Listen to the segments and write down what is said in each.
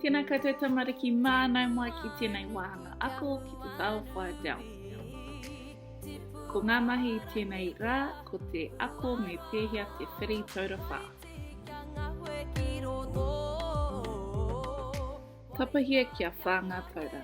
Tēnā koutou tamariki mānau mai ki tēnei wāhanga ako ki te Tao Whae Dell. Ko ngā mahi tēnei rā, ko te ako me pēhea te whiri taura whā. Tapahia kia whā ngā taura.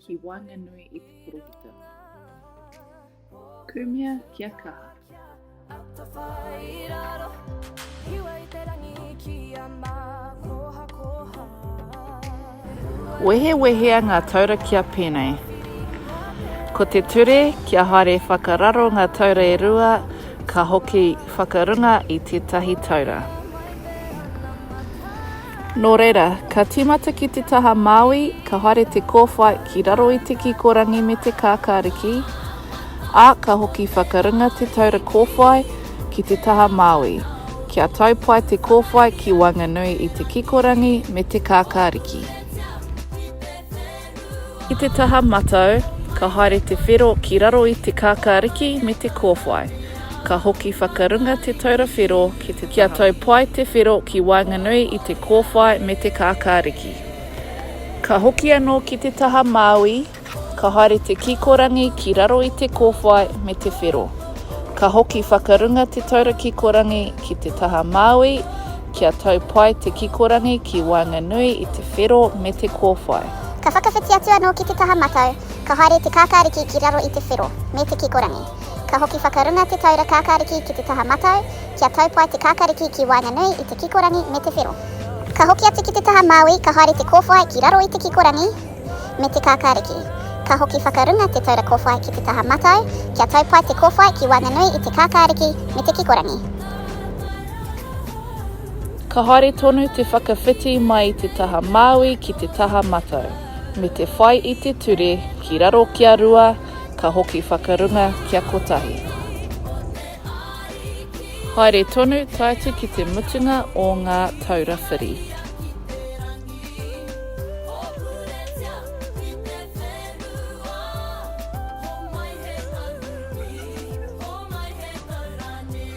ki waenganui i te poropita. Kumea kia kaha. Wehewehea ngā taura kia pēnei. Ko te ture kia haere whakararo ngā taura e rua, ka hoki whakarunga i tētahi taura. Nō reira, ka tīmata ki te taha Māui, ka haere te kōwhai ki raro i te kikorangi me te kākāriki, ā, ka hoki whakarunga te taura kōwhai ki te taha Māui, kia tau pai te kōwhai ki waenganui i te kikorangi me te kākāriki. I te taha matau, ka haere te whero ki raro i te kākāriki me te kōwhai. Ka hoki whakarunga te taura whero ki te taha. Kia tau pai te whero ki waenganui i te kōwhai me te kākāriki. Ka hoki anō ki te taha māui, ka haere te kikorangi ki raro i te kōwhai me te whero. Ka hoki whakarunga te taura kikorangi ki te taha māui, Kia tau pai te kikorangi ki waenganui i te whero me te kōwhai. Ka whakawhiti atu anō ki te taha matau, ka haere te kākāriki ki raro i te whero, me te kikorangi. Ka hoki whakarunga te taura kākāriki ki te taha matau, kia tau pai te kākāriki ki waenganui i te kikorangi me te whero. Ka hoki atu ki te taha māui, ka haere te kōwhai ki raro i te kikorangi me te kākāriki. Ka hoki whakarunga te taura kōwhai ki te taha matau, kia tau pai te kōwhai ki waenganui i te kākāriki me te kikorangi. Ka haere tonu te whakawhiti mai i te taha māui ki te taha matau, me te whai i te ture ki raro kia rua, ka hoki whakarunga kia kotahi. Haere tonu tae atu ki te mutunga o ngā taura whiri.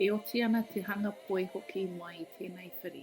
E oti ana te hanga poi hoki mai i tēnei whiri.